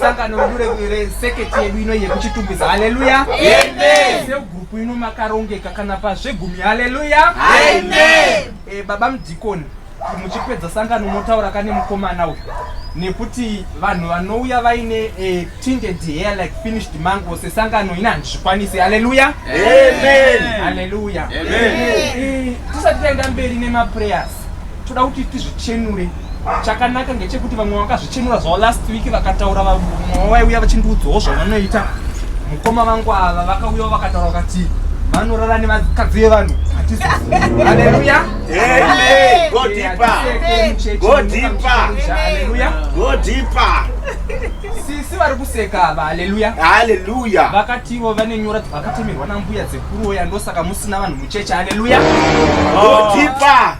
sangano redu reseketi yedu ino yekuchitungwiza haleluya segurupu ino makarongeka kana pazvegumi haleluya eh, baba mudhikoni muchipedza sangano motaura kane mukomana uyu nekuti vanhu vanouya vaine eh, tinted hair like finished mango sesangano ina handizvikwanisi haleluya haleluya Eh, tisati taenda mberi nemaprayers toda kuti tizvichenure chakanaka ngechekuti vamwe vakazvichenura zvavo last week vakataura vamwe vaiuya vachindiudzawo zvavanoita mukoma vangu ava vakauyawo vakataura vakati vanorara nevakadzi vevanhu hatizoaleluya sisi vari kuseka ava haleluya haleluya vakativo vane nyora dzavakatemerwa nambuya dzekuroya ndosaka musina vanhu mucheche haleluya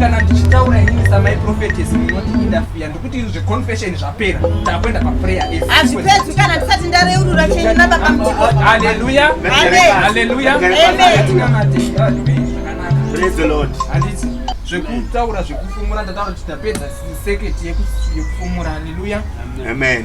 kana ndichitaura inini samai prophetes munoti indafiya ndikuti zveconfession zvapera takuenda paprayer hazvipedzi kana ndisati ndareurura chenyu nababa mutikohaleluya haleluya handiti zvekutaura zvekufumura ndataura kuti tapedza seketi yekufumura haleluya amen